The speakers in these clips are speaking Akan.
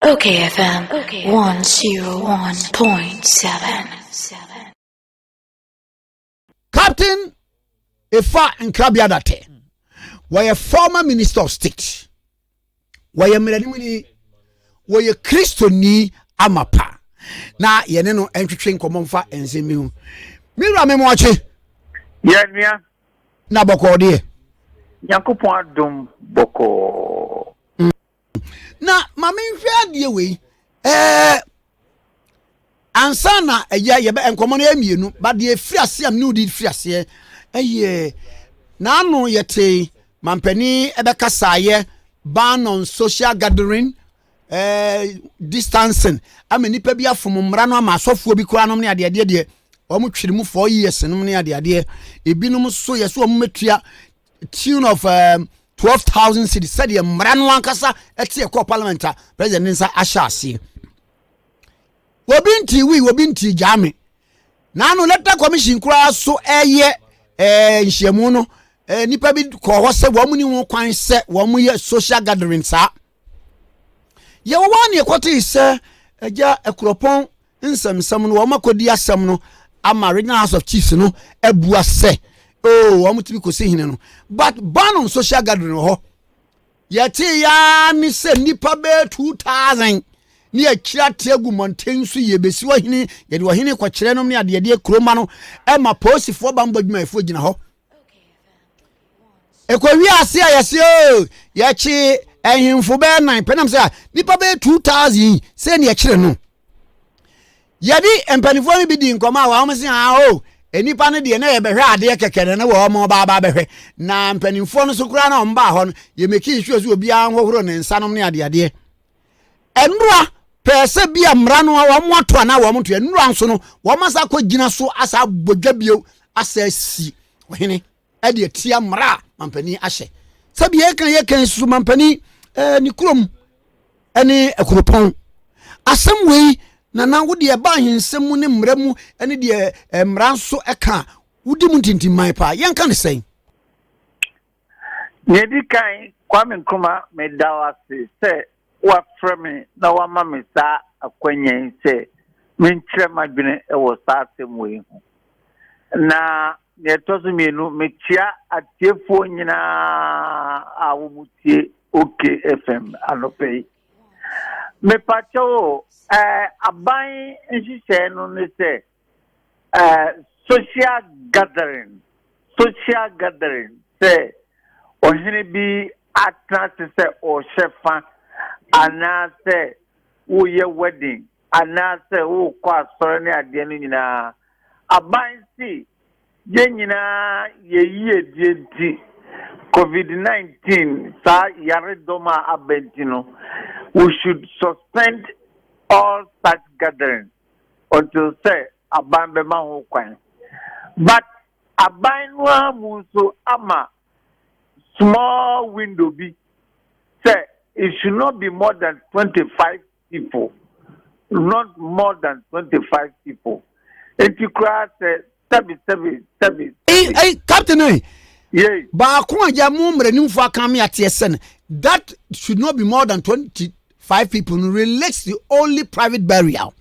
Okay FM 101.7 Captain Efa Nkrabia Date wɔyɛ former minister of state wɔyɛ mmeranimuni wɔyɛ kristoni amapa na yɛne no ntwetwe nkɔmmɔ mfa nsɛm bi ho me wura me moakye yɛnua na bɔkɔɔ deɛ nyankopɔn adom bɔkɔɔ Mm. Na ma menhwɛ adeɛ wei. Eh, ansa na ɛyɛ yɛbɛ nkɔmɔ no yɛ mmienu ba deɛ firi aseɛ am ne wodi firi aseɛ ɛyɛ n'ano yɛte mampani ɛbɛkasaayɛ ban on social gathering eh, distancing ama nipa bi afom mmara no ama asɔfoɔ bi koraa nom ne adeɛ adeɛ deɛ wɔn twere mu four years nom ne adeɛ adeɛ ebinom so yɛ so wɔn mɛtua tune of um, twelve thousand cities sɛdeɛ mmara no ankasa ɛte ɛkɔ parliament a president ne nsa ahyɛ aseɛ obi nti wi obi nti gyaa me na ano leta commission koraa so ɛyɛ ɛɛ eh, nhyiamu no eh, nipa bi kɔ hɔ sɛ wɔn ni ho kwan sɛ wɔn yɛ social gathering saa. Yɛwɔ a ne yɛkɔtee sɛ Agya Akuropɔn nsɛmnsɛm no, wɔn akɔdi asɛm no ama Regional House of Chiefs no abua sɛ, oh, wɔn tumi kɔsi hene no. But Banon social gathering wɔ hɔ. Yɛtee yaa ne sɛ nnipa bɛyɛ 2,000 ne akyiri ate agu mmɔnten so yɛbɛsi ɔhene yɛde ɔhene kɔkyerɛ nom ne adeɛdeɛ kuroma no ɛma polisifoɔ bammɔ adwumayɛfoɔ gyina hɔ ɛkɔwie ase a yɛse oh, yɛkye ahemfo bɛyɛ nan pɛ nam sɛ nnipa bɛyɛ 2000 sɛ ne yɛkyerɛ no yɛde mpanimfoɔ no bi di nkɔmɔ a wɔn se ah o oh, nnipa no deɛ na yɛbɛhwɛ adeɛ kɛkɛ na na wɔn baaba bɛhwɛ na mpanimfoɔ no so koraa na wɔn baa hɔ no yɛmɛkii sure sɛ obiara nhohoro ne nsanom ne adeadeɛ Nnora pɛɛ sɛ bi a mmara no wɔn ato anaa wɔn ntoɛ. Nnora nso no wɔn asa akɔ gyina so asa abɔ dwa bio asa asi ɔhene ɛde atia mmara a mampanin ahyɛ. Sɛbi yɛka yɛka yi so mampanin ɛɛ ne kurom ɛne akuropɔn. Asɛm wei nana wo deɛ ɛba ahensɛm mu ne mmara mu ɛne deɛ mmara nso ɛka wodi mu ntintimman paa yɛnka ne sɛn. Nea ɛdi kan, Kwame Nkrumah, meda wo ase sɛ woafrɛ me na woama me saa akwanya yi sɛ menkyerɛ m'adwene wɔ saa asɛm wei ho. Na nea ɛtɔ so mmienu, mekyea atiefoɔ nyinaa a wɔtie OK FM anɔpɛ yi. Mepakyɛw o, ɛɛ aban nhyehyɛe no ne sɛ uh, social gathering social gathering sɛ ɔhene bi atena ase sɛ ɔhyɛ fa anaasɛ woyɛ wedding anaasɛ wokɔ asɔre ne adeɛ no nyinaa aban si yɛn nyinaa yɛyie die nti covid-19 saa yaredɔm a aba nti no we should suspend all such gatherings until sɛ aban bɛma ho kwan but aban no ara mu nso ama small window bi sɛ it should not be more than 25 people not more than 25 people nti koraa sɛ sɛbi sɛbi sɛbi. ɛyi ɛyi captain ɛyi. Eh. yei. baako a yɛ mo mmaranimfoɔ aka mi ateɛ sɛ no that should not be more than twenty five people no relates to only private burial.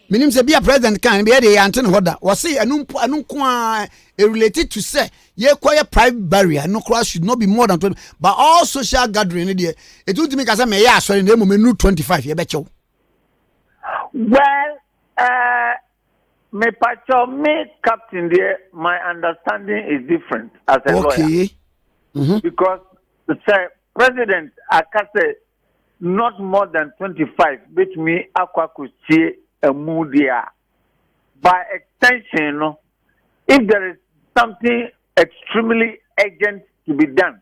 menim sɛ bia president kan bia de yɛante ne hɔ da wɔse ɛno mpo ɛno nko a related to sɛ yɛkɔyɛ private burial no koraa should not be more than twenty but all social gathering no deɛ ɛtuntumi ka sɛ mɛyɛ asɔre na mmom ɛnu twenty five yɛbɛkyɛw. well uh, Mepakyɛw me captain deɛ my understanding is different as a lawyer. Okay. Mm -hmm. Because sɛ president aka sɛ not more than twenty five betumi akɔ akɔsie ɛmu deɛ a by extension no if there is something extremely urgent to be done.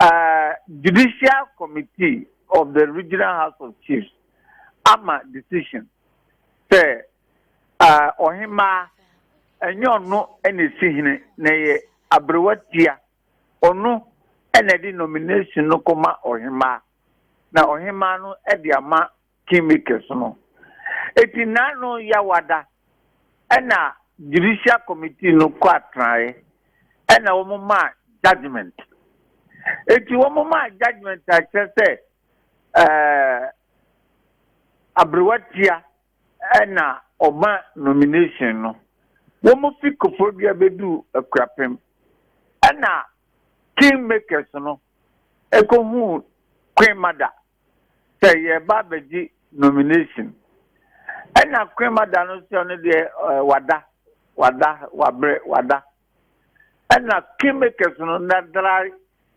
uh, Judicial Committee of the Regional House of Chiefs ama decision sɛ uh, ɔhemaa ɛnyɛ ɔno ɛna esi hene na ɛyɛ aberewa tia ɔno ɛna ɛde nomination no kɔma ɔhemaa na ɔhemaa no ɛde ama kingmakers no. Enti nna no Yawada na judicial committee no kɔ atenae na wɔmaa judgement. Enti wɔmaa judgement a kyerɛ sɛ eh, Aberewatia na ɔma nomination no. Wɔfi Koforidua bɛduu Akurapem na kingmakers no ɛkɔhuu Queen Mada. sɛ yɛreba abɛgye nomination. Ɛna Cramer da no sɛ ɔno deɛ ɛɛ wada, wada, wabrɛ, wada. Ɛna kingmakers no na there are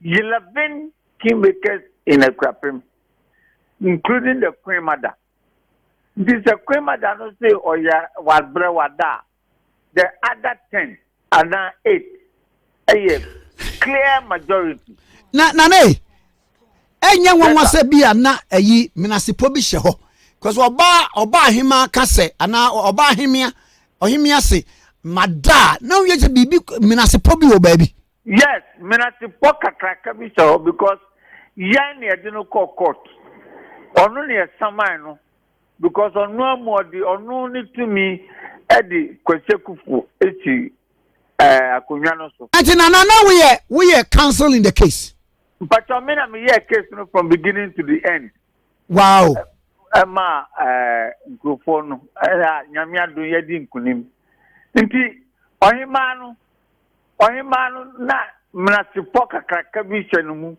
eleven kingmakers in Akuapem including the Cramer da. Nti sɛ Cramer da no sɛ ɔyɛ wabrɛ, wada a, the other ten anaa eight yɛ clear majority. Na nana e, ɛnyɛ nwanwa sɛ bi a na ayi menasepɔ bi hyɛ hɔ because ɔbaa ɔbaa ahema ka sɛ anaa ɔbaa ahemea ɔhemea se madaa na woyɛ sɛ biribi menasepɔ bi wɔ baabi. yes menasepɔ kakraka bi hyɛ hɔ because yɛn na yɛde no kɔ court ɔno na yɛsaman no. because ɔno ama ɔde ɔno ne tumi de Kwasi Akufo si ɛɛ akonnwa no so. Nti nana na woyɛ woyɛ counsel in the case. Mpatwa me na me yɛ case no from beginning to the end. Wow. Ɛma ɛɛ nkurɔfoɔ no ɛna nyame adum yɛ di nkunim nti ɔhemaa no. Ɔhemmaa no na menasepɔ kakraka bi hyɛ ne mu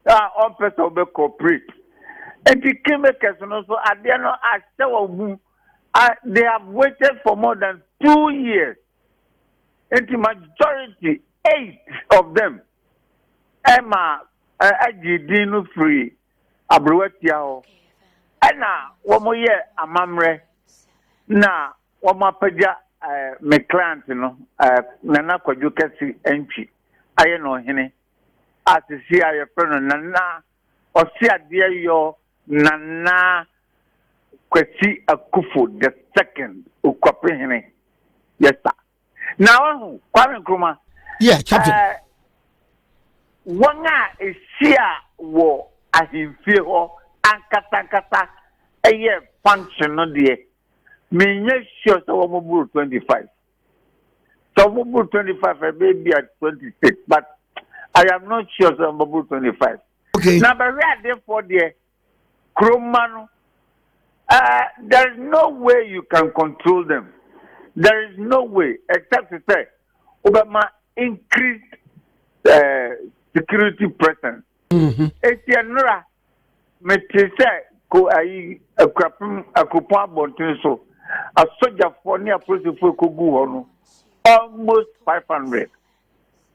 a ɔmpɛ sɛ ɔbɛ cooperate. Enti kingmakers no nso adeɛ no ahyɛ wɔn mu a they have waited for more than two years. Enti majority eight of them ɛma agye din no firi aberewa tia hɔ. Ɛna wɔn yɛ amammerɛ na Wɔapagya me client no, Nana Kwadwo Kɛse Antwi, ayɛ no ɔhene, a seesei a wɔfrɛ no Nana Ɔseadeɛyɔ Nana Kwasi Akuffo the Second, Okuapehene. Yes sir. Na wahu, Kwame Nkrumah, yeah, captain. Uh, wɔn a ɛhyia wɔ ahemfie hɔ ankasankasa ɛyɛ function no deɛ menyɛ sure sɛ wɔn boro twenty five sɛ wɔn boro twenty five ɛbɛyɛ bi at twenty six but i am not sure sɛ wɔn boro twenty five. okay na bɛhwɛ adefoɔ deɛ kuroma no uh, there is no way you can control them there is no way except to say wobɛma increased uh, security presence. Mm-hmm. eti ɛnora. Mm -hmm. Mete sɛ ko ayi akurapem akuropɔn abɔnten so asogyafoɔ ne apolisifo ɛkɔgu hɔ no almost five hundred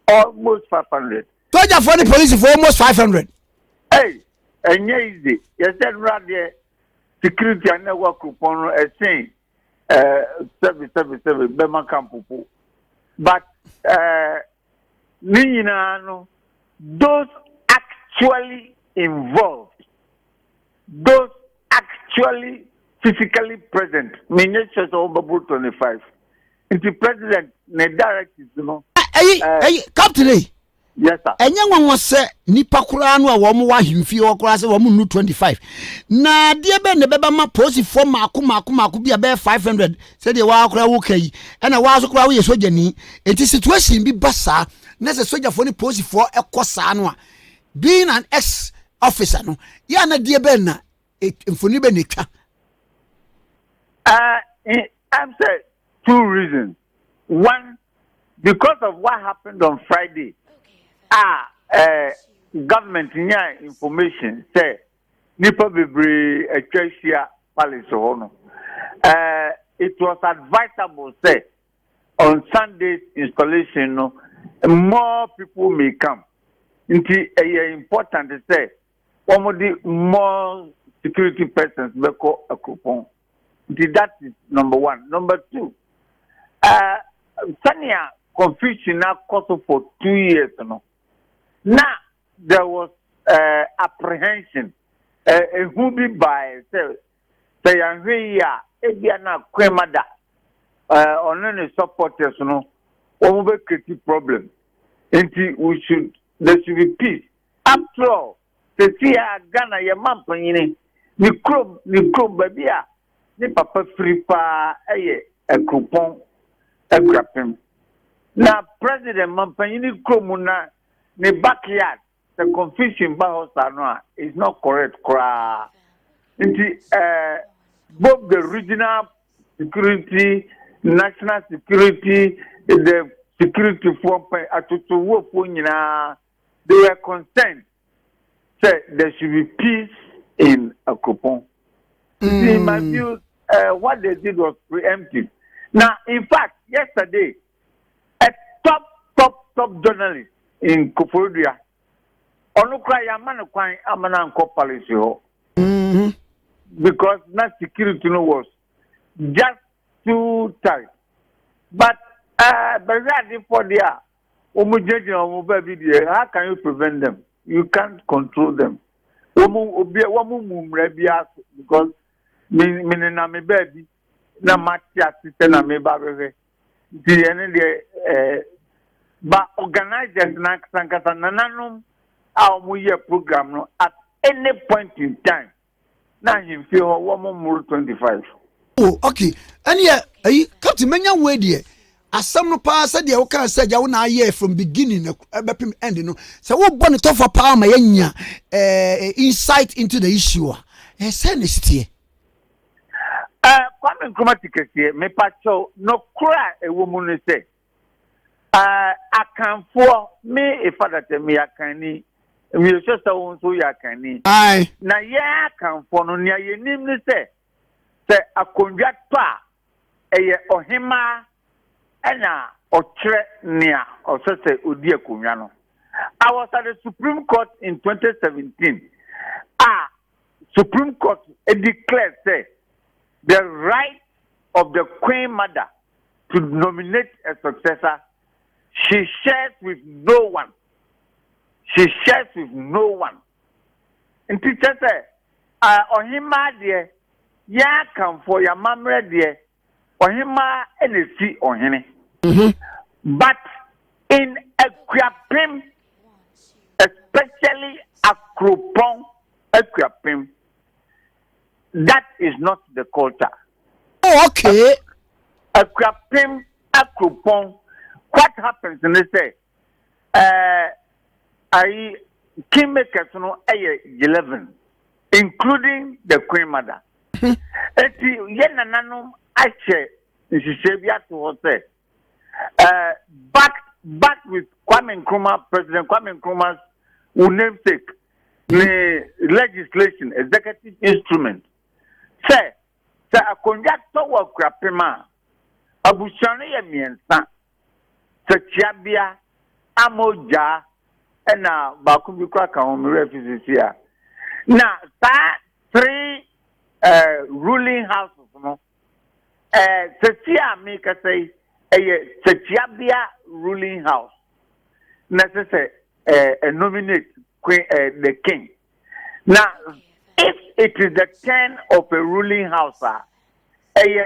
almost five hundred. Sogyafoɔ ne polisifo almost five hundred. Ɛy ɛnyɛ easy yɛsɛ nnura deɛ security a na ɛwɔ akuropɔn no ɛsen ɛɛ sɛbi sɛbi sɛbi bɛma kampopo but ɛɛ. no nyinaa no, those actually involved, those actually physically present, menyɛ kyerɛ sɛ wɔbɛboro 25. Nti president ne directives no. Ɛyi, eh, ɛyi, captain yi. Eh, yes sir. Ɛnyɛ nwanwa sɛ nipa koraa no a wɔn wɔ ahemfie hɔ koraa sɛ wɔn nnu 25. Na adeɛ bɛn na ɛbɛba ma polisifoɔ mako mako mako bi a bɛyɛ 500 Sɛdeɛ woaa koraa woka yi ɛna woaa nso koraa woyɛ sogyani nti situation bi ba saa na sɛ sogyafoɔ ne polisifoɔ kɔ saa no a being an ex officer no yɛ a na deɛ bɛn na mfoni bɛn na ɛtwa Uh, I'm saying two reasons. One, because of what happened on Friday, ah, uh, government yeah information say nnipa bebree atwa ahyia Palace hɔ no, ɛɛ it was advisable sɛ on Sunday's installation no more people may come. Nti ɛyɛ important sɛ wɔde more security persons bɛkɔ akuropɔn. Nti that is number one. Number two, ɛɛ sɛnea confusion akɔ so for two years no, na there was uh, apprehension ehu bi bae sɛ sɛ yɛnhwɛ yi a ebia na kwema da ɔno ne supporters no wɔn bɛ create problem nti we should there should be peace after all sisi a ghana yɛ ma mpanyini ne kurom ne kurom baabi a ne papa firi paa ɛyɛ akuropɔn akurapem na president ma mpanyini kurom na ne backyard sɛ confusion ba hɔ saa no a is not correct koraa nti ɛɛ eh, both the regional security national security the security foɔ mpɛ atotowofoɔ nyinaa they were concerned sɛ there should be peace in Akropong. Mm. See my views uh, what they did was preemptive. Now, in fact, yesterday, A top top top journalist in Koforidua, ɔno koraa yɛama no kwan ama no ankɔ palace hɔ mm-hmm. because na security no was just too tight but uh, bɛhwɛ adefoɔ deɛ a wɔn gyinagyina wɔn baabi deɛ how can you prevent them you can't control them wɔn obi wɔn mu mmara bi aso because me me nenam me baabi na mate ase sɛ na me ba bɛhwɛ. Nti deɛ no deɛ eh, ba organizers na ankasa ankasa nananom a wɔn yɛ program no at any point in time na ahemfie hɔ wɔn mmoro twenty five. Oh okay, ɛnneɛ ɛyi captain menya wo deɛ asɛm no paa sɛ deɛ wokaa sɛ gya wo na ayɛ from beginning ɛbɛpem eh, end no sɛ wobɔ ne tɔfa paa ma yɛnya eh, eh, insight into the issue a ɛsɛ eh, ne siteɛ Ɛɛ Kwame Nkrumah ti kɛseɛ, mepa kyɛw, nokorɛ a ɛwɔ mu ne sɛ, ɛɛ Akanfoɔ, me Ifadatɛ, meyɛ Akanni, meyɛsɛ sɛ wo nso woyɛ Akanni. Ae. Na yɛn Akanfoɔ no, nea yɛnim ne sɛ, sɛ akondwa tɔ a, ɛyɛ Ɔhemaa ɛna ɔkyerɛ nea ɔsɛ sɛ odi akonnwa no. I was at the Supreme Court in 2017 a, Supreme Court declare sɛ the right of the Queen Mother to nominate a successor, she shares with no one. She shares with no one. Nti kyɛ sɛ ɔhemaa deɛ, yɛn akanfoɔ, yɛn amammerɛ deɛ, ɔhemmaa na esi ɔhene. Mm-hmm. But in Akuapem, especially Akropong Akuapem, that is not the culture. Oh, okay. Akuapem, Akropong, what happens in this? ɛɛ ayi king makers no ɛyɛ eleven including the queen mother eti yɛ nananom ahyɛ nhyehyɛ bi ato hɔ sɛ ɛɛ back back with kwame nkrumah president kwame nkrumah's wo namesake ne legislation executive instrument sɛ sɛ akonnwa tɔ wɔ akurapem a abusua no yɛ mmiɛnsa. Tsetsiabea a mogyaa na baako bi koraa ka ho, me werɛ efi sesei a, na saa three eh, ruling houses no, eh, sesei a mekasa yi, ɛyɛ Tsetsiabea ruling house na ɛsɛ sɛ eh, nominate queen, eh, the king. Na if it is the turn of a ruling house a, ɛyɛ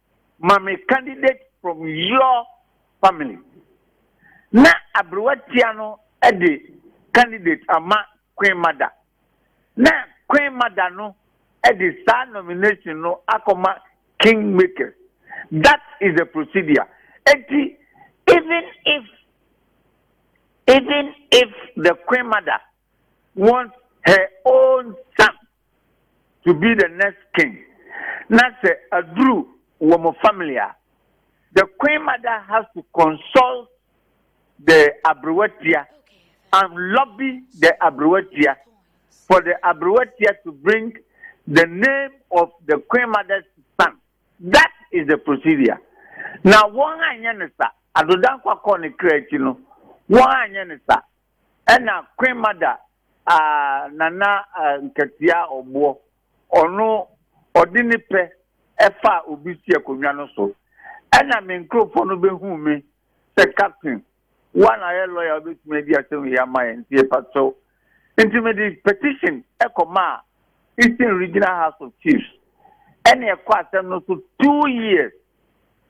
ma me candidate from your family na aberewa tia no de candidate ama Queen Mada na Queen Mada no de saa nomination no akɔma King Makers. That is the procedure. Eti even if even if the Queen Mada wants her own son to be the next king na sɛ aduru wɔ mo family a the queen mother has to consult the abrewatia and lobby the abrewatia for the abrewatia to bring the name of the queen mother's son that is the procedure na wɔn anyɛ ne sa adodankwa kɔɔ ne kra akyi no wɔn anyɛ ne sa Ɛna Queen Mada a Nana Nkatia Ɔboɔ ɔno ɔde ne pɛ ɛfaa obi si akonnwa no so. Ɛna me nkurofoɔ no bɛhuu me sɛ Captain wo a na woyɛ lawyer a wobɛtumi adi asɛm wei ama yɛn nti yɛpakyɛw. Nti mede petition ɛkɔmaa Eastern Regional House of Chiefs. Ɛna ɛkɔ asɛm no so two years.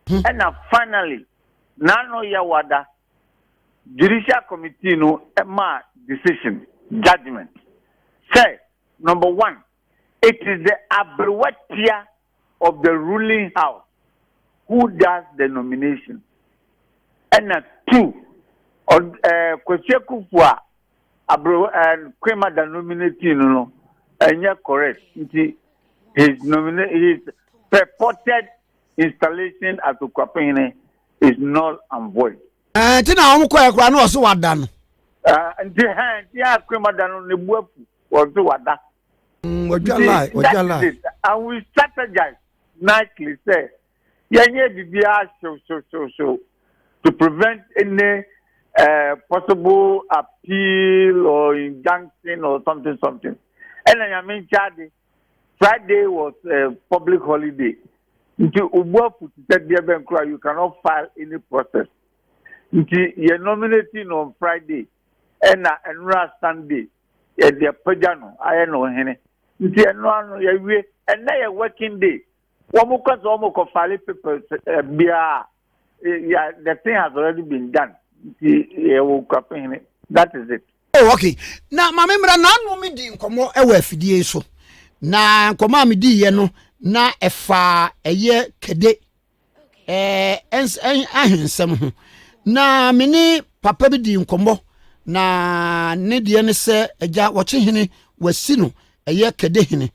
Ɛna finally Naano Yawada judicial committee no maa decision, judgement, sɛ, number one, it is the aberewa tia of the ruling house who does the nomination, ɛna two, ɔd ɛɛ Kwasi Akufo a aberewa ɛɛ Queen Mada nominating no no ɛnyɛ correct nti his nomina his purported installation as Okuapehene is null and void. ɛɛ nti na wɔn kɔɛ koraa na ɔso wada no. ɛɛ nti hɛn nti yɛn akurema da no ne bu afu ɔso wada. Mm, ɔdwa lie ɔdwa lie. and we strategize nightly sɛ yɛn yɛ bibi ahyew hyew hyew hyew to prevent any uh, possible appeal or injunction or something something. ɛna nyame nkyɛn ade. Friday was a public holiday. Nti Ubuafu ti sɛ deɛ bɛn kura you cannot file any process. Nti yɛ nominate no on Friday ɛna ɛnura Sunday yɛ deɛ pagya no ayɛ no hene. Nti ɛnura no yɛ wie ɛnɛ yɛ working day. Wɔn kɔ sɛ wɔn kɔ file papers biara. Yeah, the thing has already been done. That is it. Oh, okay. Na maame mmira na ano mi di nkɔmɔ ɛwɔ afidie yi so. Na nkɔmɔ a mi di yɛ no na ɛfa ɛyɛ kɛde ɛɛ ɛn ahensɛm ho. Na mi ne papa bi di nkɔmɔ na ne deɛ ne sɛ ɛgya wɔkye hene wɔasi no ɛyɛ kɛde hene.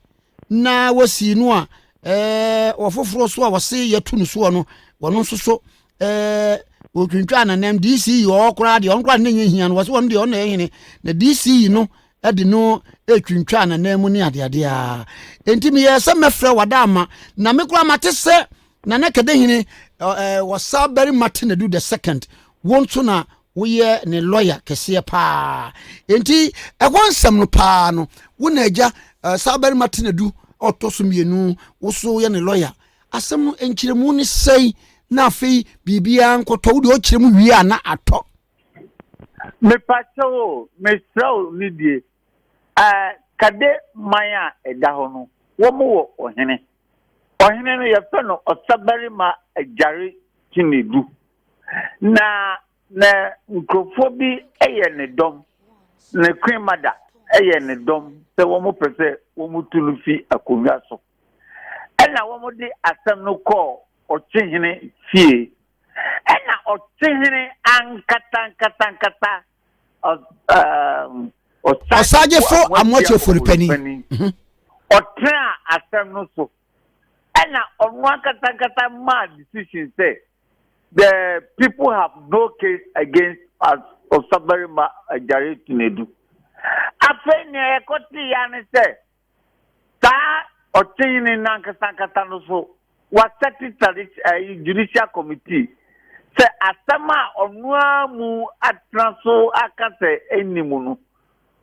na wɔsii no a ɛɛ ɔfoforɔ so a wɔse yɛto no soɔ no wɔno nso so ɛɛ ɔtwintwa nanam dc yi ɔɔ koraa deɛ ɔno koraa ne nyɛ hia no wɔse wɔno deɛ ɔno na ɛhene na dc yi no de no ɛtwintwa nanam mu ne adeadeɛ a enti meyɛɛ sɛ mɛfrɛ wada ama na me koraa mate sɛ nana kɛdɛ hene wɔsa barima te na du the second wo nso na woyɛ ne lɔya kɛseɛ paa nti ɛhɔ nsɛm no paa no wo na agya eh, saa barima te nadu ɔtɔ so mmienu wo so yɛ ne lɔya asɛm no nkyerɛmu ne sɛi na afei biribiara nkɔtɔ wode ɔkyerɛ mu wie a na atɔ mepakyɛ wo mesrɛ wo ne die eh, kade man a ɛda hɔ no wɔm wɔ ɔhene ɔhene no yɛfrɛ no ɔsabarima agyare kyinedu na na nkurɔfoɔ bi yɛ ne dɔm, ne Queen Mother yɛ ne dɔm sɛ wɔpɛ sɛ wɔtu no fi akonnwa so. Ɛna wɔde asɛm no kɔɔ ɔkyehene fie. Ɛna ɔkyehene ankatankatankata ɔsagyefo amoakyefori panin mhm. ɔtena asɛm no so. Ɛna ɔno ankatankata maa decision sɛ The people have no case against us Ɔsabarima Agyare Tunadu. Afei nea yɛkɔtee ya ne sɛ saa ɔkyeyene no ankasa ankasa no so wasɛte tradition eh, judicial committee sɛ asɛm a ɔno ara mu atena so aka sɛ ɛnni mu no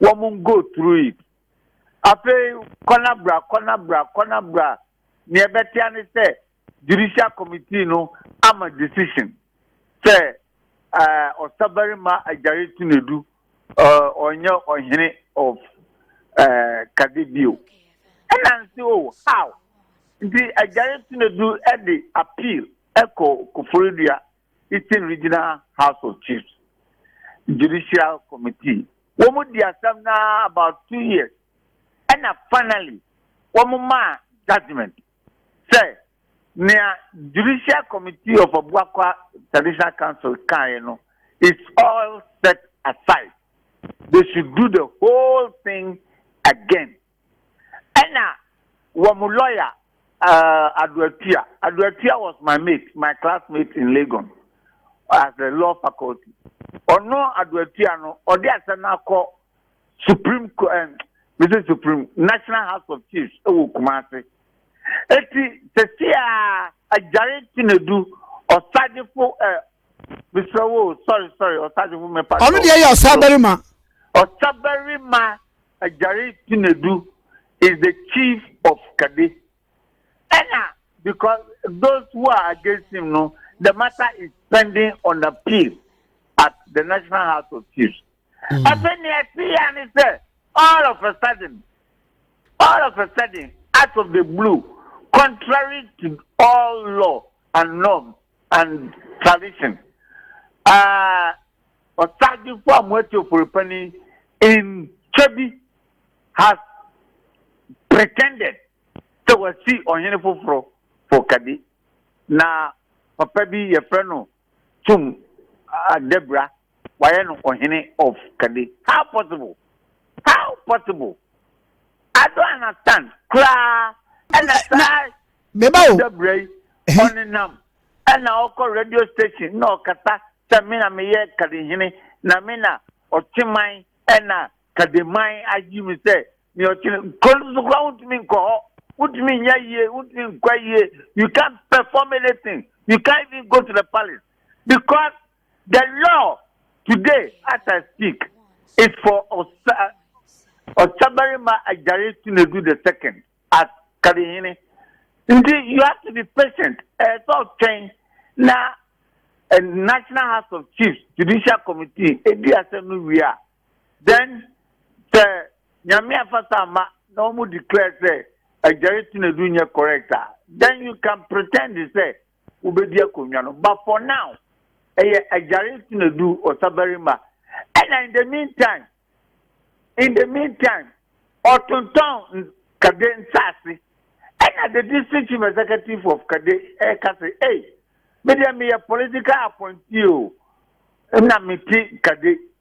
wɔn go through it afei kɔnabra kɔnabra kɔnabra nea ɛbɛtea ne sɛ Judicial committee no ama decision sɛ ɛɛ ɔsabarima Agyare Tunadu ɛɛ ɔnyɛ ɔhene of ɛɛ Kade bio. Ɛna nsi o how nti Agyare Tunadu ɛde appeal ɛkɔ Koforidua Eastern Regional House of Chiefs Judicial Committee. Wɔn di asɛm naa about two years ɛna finally wɔn maa judgement. sɛ nea Judicial Committee of Abuakwa Traditional Council kaeɛ no is all set aside, they should do the whole thing again. Ɛna wɔn lawyer uh, Ado Atua, Ado Atua was my mate, my classmate in Legon as the law faculty. Ɔno Ado Atua no, ɔde asɛm no akɔ supreme court ɛn mese supreme national house of chiefs ɛwɔ kumase eti sese a agyare tinedu ɔsajefo ɛ mesrɛ wo sɔre sɔre ɔsajefo mepa ɔno deɛ yɛ ɔsabarima ɔsabarima agyare tinedu is the chief of kade ɛna because those who are against him no the matter is pending on appeal at the national house of chiefs. Mm. Afei nea ɛte ya ne sɛ all of a sudden all of a sudden out of the blue contrary to all law and norms and tradition uh, ɔsagyefo a moati oforipani ntwa bi has pretended sɛ wasi ɔhene foforɔ fokadi na papa bi yɛfrɛ no tum a Debra wayɛ no ɔhene of kade how possible how possible I don't understand koraa ɛna saa Debra yi ɔnenam ɛna ɔkɔ radio station na ɔkasa sɛ me na meyɛ kadehene na me na ɔkyeman ɛna Kademai ayi me sɛ nea ɔkyerɛ kuro no so koraa wontumi nkɔ hɔ wontumi nyɛ yie wontumi nkɔ yie you can't perform anything you can't even go to the palace because the law today as I speak is for Osa Osabarima Ajare Sunedu the second as Kadehene nti you have to be patient ɛyɛ sɛ ɔtwɛn na eh, National House of Chiefs Judicial Committee edi asɛm no wie a. Then sɛ Nyame afasa ama na wɔn declare sɛ Agyare Tenadu nyɛ correct a, then you can pretend sɛ wobɛdi akonnwa no but for now ɛyɛ Agyare Tenadu Ɔsabarima ɛna in the mean time in the mean time ɔtontɔn Kade nsaase ɛna the district chief executive of Kade ɛka sɛ ei medeɛ meyɛ political appointee o na mete Kade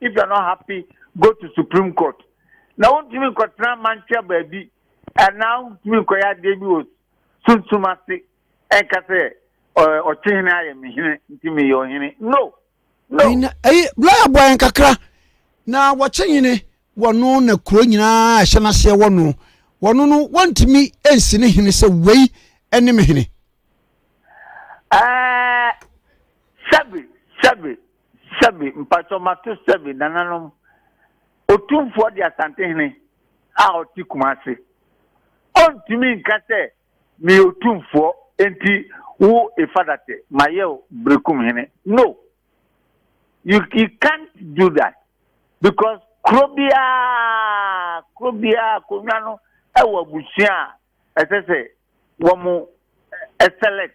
If you are not happy, go to Supreme Court. Na wontumi nkɔtena amantua baabi anaa wontumi nkɔyɛ adeɛ bi wɔ sunsum ase ɛnka sɛ ɔkyehene ayɛ me hene nti meyɛ ɔhene. No! No! Ɛyi, bla yɛ bɔ yɛn kakra na wɔkye hene wɔno na kuro nyinaa ɛhyɛ n'aseɛ wɔno wɔno no wɔntumi nsi ne hene sɛ wei ɛne me hene. Ɛɛ sɛbi sɛbi Sɛbi, mpakyɛw mato sɛbi, nananom, Otumfoɔ de Asantehene a ɔte Kumase. Ɔntumi nka sɛ meyɛ Otumfoɔ nti wo Ifadatɛ mayɛ wo Berekum hene. No! You, he can't do that because kuro biara, kuro biara akonnwa no wɔ abusua a ɛsɛ sɛ wɔn select.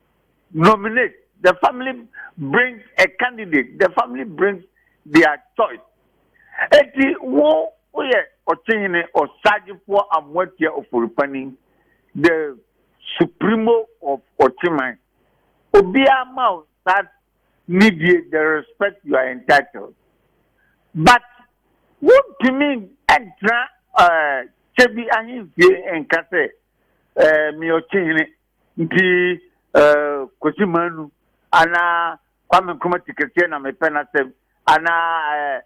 nominate, the family brings a candidate, the family brings their choice. Eti wo woyɛ ɔkyehene ɔsagyefoɔ amoatia oforipani the supremo of ɔkyeman obiara ma wo saa nidie the respect you are entitled but wontumi ntena ɛɛ kyɛbi ahemfie nka sɛ ɛɛ meyɛ ɔkyehene Nti eh, Kwesi Manu anaa Kwame Nkrumah tiketeɛ na mepɛ n'asɛm anaa eh,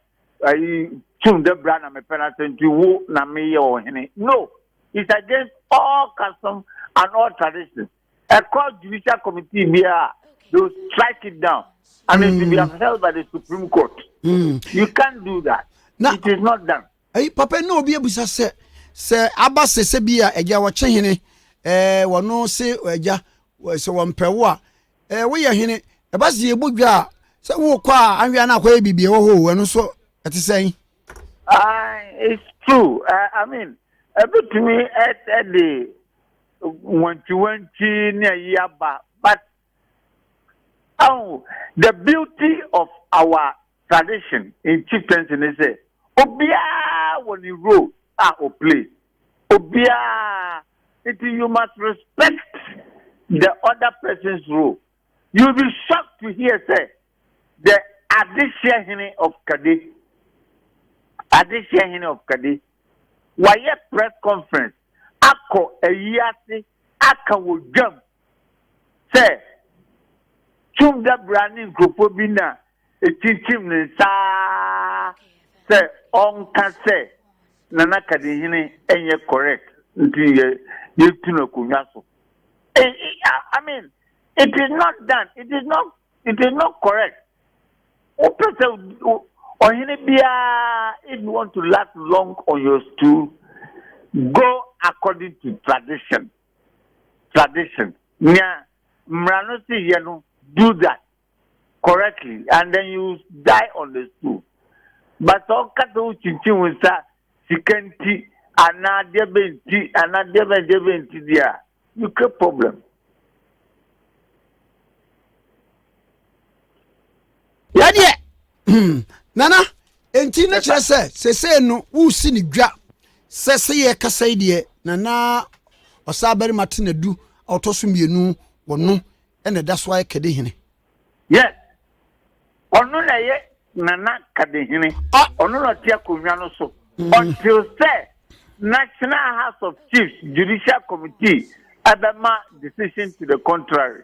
ayi Tum da bra na mepɛ n'asɛm nti wo na meyɛ ɔhene. No, it's against all custom and all tradition. Ɛkɔ judicial committee biara, they will strike it down and it will be mm. upheld by the Supreme Court. Mm. You can't do that. It is not done. Eyi papa yi na obi abisa sɛ, sɛ aba sɛ sɛ bi a agya wɔkye hene, ɛɛ wɔno se agya sɛ wɔmpɛ wo a, ɛɛ woyɛ hene, ɛba sɛ yɛbɔ dwa a, sɛ wokɔ a anwea no akɔyɛ biribi ɛwɔ hɔ o, ɛno nso ɛte sɛn? Uh, it's true. Uh, I mean, ɛbɛtumi ɛde wantwiwantwi ne ayi aba but Ahu, the beauty of our tradition in chieftaincy ne sɛ, obiara wɔ ne role a o play, obiara, nti you must respect the other person's role. You will be shocked to hear sɛ, the Adehyeɛ Hene of Kade, Adehyeɛ Hene of Kade, wayɛ press conference akɔ ayi ase aka wɔ dwam sɛ tum dabra ne nkurɔfoɔ bi na ɛkyinkyim ne nsa ara sɛ ɔnka sɛ Nana Kadehene ɛnyɛ correct nti yɛ yɛtu no akonnwa so. I, I mean, it is not done, it is not, it is not correct. Wopɛ sɛ ɔhene biara, if you want to last long on your stool, go according to tradition. tradition nea mmara no si yɛ no do that correctly and then you die on the stool but sɛ ɔka sɛ wokyinkyin wo nsa sika nti anaa deɛ bɛ nti anaa deɛ bɛ deɛ bɛ nti deɛ a you create problem. Yɛdeɛ hmm, nana enti ne kyerɛ sɛ sesei no wosi ne dwa sɛ sɛ yɛ kasa yi deɛ nana ɔsaa barima te nadu a ɔtɔ so mmienu wɔ no ɛna ɛda so ayɛ kɛde hene yes ɔno na ɛyɛ nana kɛde hene ɔno na ɔte akonnwa no so mm. until sɛ national house of chiefs judicial committee ɛbɛma decision to the contrary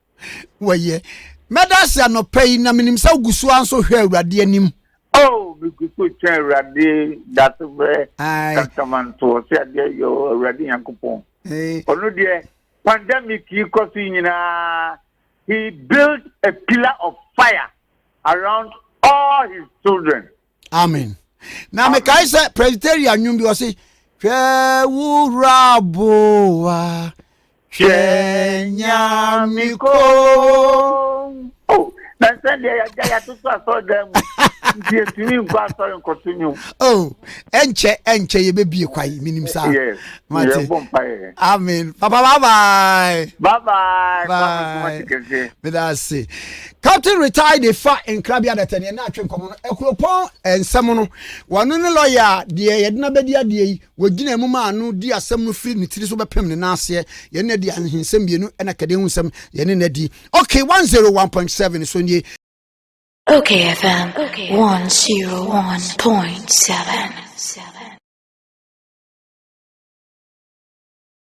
wɔyɛ mɛda ase anɔpa yi na menim sɛ wogu so ara nso hwɛ awurade anim oh megu so kyɛ awurade dase frɛ kasamantoɔ sɛ adeɛ yɛ awurade nyankopɔn ɔno deɛ pandemic yi kɔ so nyinaa he built a pillar of fire around all his children amen na mekae sɛ presbyteria nnwom bi ɔse hwɛ wo wura boa hwɛ nyame ko oh, na sɛdeɛ yɛagya yɛatoto asɔredan mu nti yɛtumi nkɔ asɔre nkɔto nwom oh, ɛnkyɛ ɛnkyɛ yɛbɛbie kwae menim saa mate amen papa babae babae meda ase Captain Retired de fa nkra bi adata ni ɛna atwe nkɔmɔ no akuropɔn nsɛm no wɔno ne lɔya a deɛ yɛde no abɛdi adeɛ yi wɔgyina mu maa no di asɛm no firi ne tiri so bɛpem ne nan aseɛ yɛne no adi ahensɛm mmienu ɛna kɛdeɛ ho nsɛm yɛne no adi ok 101.7 so nie Okay FM 101.7